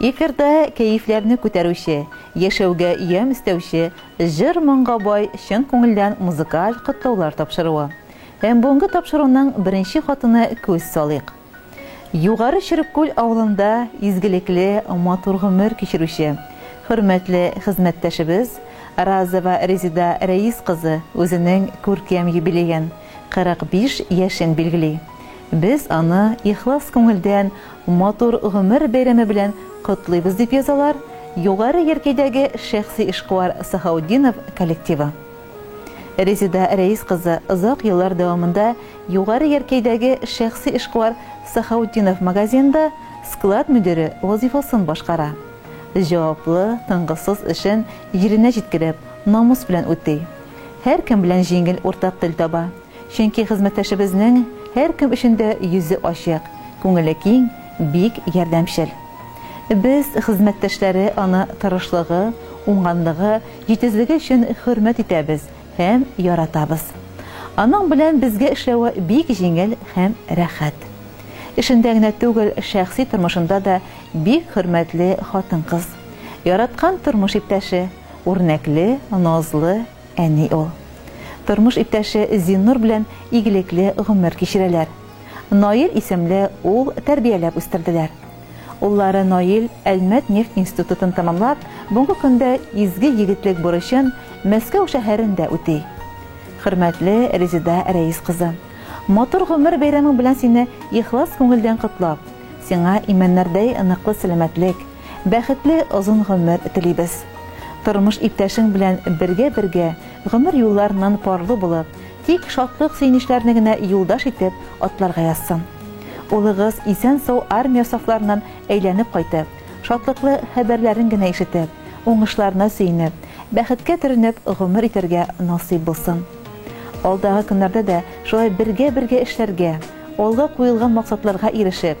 Эфирда кәефләрне күтәрүче, яшәүгә ямь өстәүче, җыр-моңга бай чын күңелдән музыкаль котлаулар тапшыруы. Һәм бүгенге тапшыруның беренче хатына күз салыйк. Югары Чөреккүл авылында изгелекле, матур гомер кичерүче, хөрмәтле хезмәттәшебез Разова Резеда Рәис кызы үзенең күркәм юбилеен, 45 яшен билгели. Без аны ихлас күңелдән матур гомер бәйрәме белән котлыйбыз, дип язалар Югары Яркәйдәге шәхси эшкуар Сахаутдинов коллективы. Резеда Рәис кызы озак еллар дәвамында Югары Яркәйдәге шәхси эшкуар Сахаутдинов магазинында склад мөдире вазыйфасын башкара. Җаваплы, тынгысыз эшен җиренә җиткереп, намус белән үти. Һәркем белән җиңел уртак тел таба. Чөнки хезмәттәшебезнең һәркем өчен дә йөзе ачык, күңеле киң, бик ярдәмчел. Без, хезмәттәшләре, аны тырышлыгы, уңганлыгы, җитезлеге өчен хөрмәт итәбез һәм яратабыз. Аның белән безгә эшләве бик җиңел һәм рәхәт. Эшендә генә түгел, шәхси тормышында да бик хөрмәтле хатын-кыз. Яраткан тормыш иптәше. Үрнәкле, назлы әни ул. Тормыш иптәше Зиннур белән игелекле гомер кичерәләр. Наил исемле ул тәрбияләп үстерделәр. Уллары Наил Әлмәт нефть институтын тәмамлап, бүгенге көндә изге егетлек бурычын Мәскәү шәһәрендә үти. Хөрмәтле Резеда Рәис кызы! Матур гомер бәйрәмең белән сине ихлас күңелдән котлап, сиңа имәннәрдәй ныклы сәламәтлек, Бәхетле озын гомер телибез. Тормыш иптәшең белән бергә-бергә, гомер юлларыннан парлы булып, тик шатлык-сөенечләрне генә юлдаш итеп атларга язсын. Улыгыз исән-сау армия сафларыннан әйләнеп кайтып, шатлыклы хәбәрләрен генә ишетеп, уңышларына сөенеп, бәхеткә төренеп гомер итәргә насыйп булсын. Алдагы көннәрдә дә шулай бергә-бергә эшләргә, алга куелган максатларга ирешеп,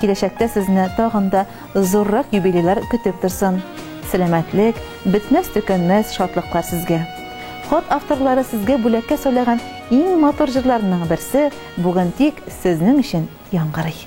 Киләчәктә сезне тагын да зуррак юбилейлар көтеп торсын. Сәламәтлек, бетмәс-төкәнмәс шатлыклар сезгә! Хат авторлары сезгә бүләккә сайлаган иң матур җырларның берсе бүген тик сезнең өчен яңгырый.